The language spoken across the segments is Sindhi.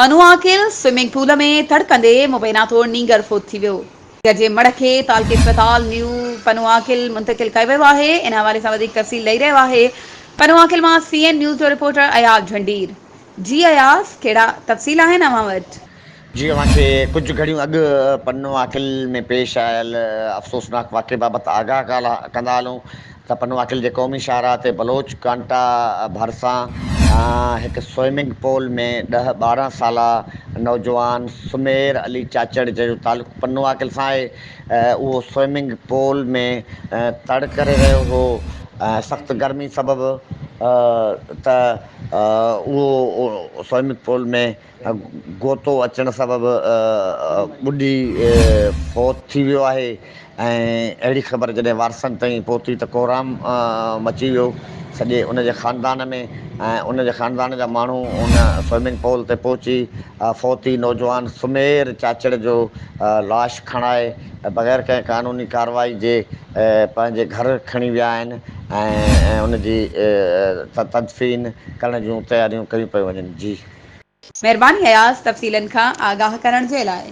انو عاقل سوئمنگ پول ۾ تڙڪندي مبينا طور نينگر فوت ٿي ويو. نينگر جي مڙهه کي تعلقي اسپتال نيو پنو عاقل منتقل ڪيو ويو آهي. ان حوالي سان وڌيڪ تفصيل ڏئي رهيو آهي پنو عاقل مان سي اين نيوز جو رپورٽر اياز جهنڊير. جي اياز ڪهڙا تفصيل آهن اوهان وٽ؟ جي اوهان کي ڪجهه گهڙيون اڳ پنو عاقل ۾ پيش آيل افسوسناڪ واقعي بابت آگاهه ڪندا هلون سپن واڪل جي قومي شاهراهه تي بلوچ ڪانٽا ڀرسان هڪ سوئمنگ پول ۾ ڏهه ٻارهن سالا نوجوان سمير علي چاچڙ جنهن جو تعلق پنو واڪل سان آهي اهو سوئمنگ پول ۾ تڙ ڪري رهيو هو سخت گرمي سبب ته اهو سوئمنگ پول ۾ غوطو اچڻ سبب ٻڏي فوت ٿي ويو آهي ۽ اهڙي خبر جڏهن وارثن تائين پهتي ته ڪوهرام مچي ويو سڄي ان جي خاندان ۾ ۽ ان جي خاندان جا ماڻهو ان سوئمنگ پول تي پهچي فوتي نوجوان سمير چاچڙ جو لاش کڻائي بغير ڪنهن قانوني ڪارروائي جي پنهنجي گهر کڻي ويا آهن ۽ ان جي تدفين ڪرڻ جون تياريون ڪيون پيون وڃن جي مھرباني اياز تفصيلن کان آگاھ ڪرڻ جي لاء.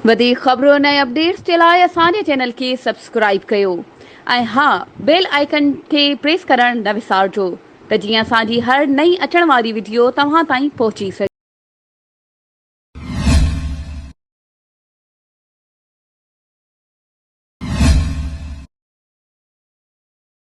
وڌيڪ خبرن ۽ اپڊيٽس جي لاء اسان جي چينل کي سبسڪرائيب ڪيو ۽ ھا بيل آئيڪن کي پريس ڪرڻ نه وسارجو ته جيئن اسان جي ھر نئين اچڻ واري وڊيو توھان تائين پھچي سگھي.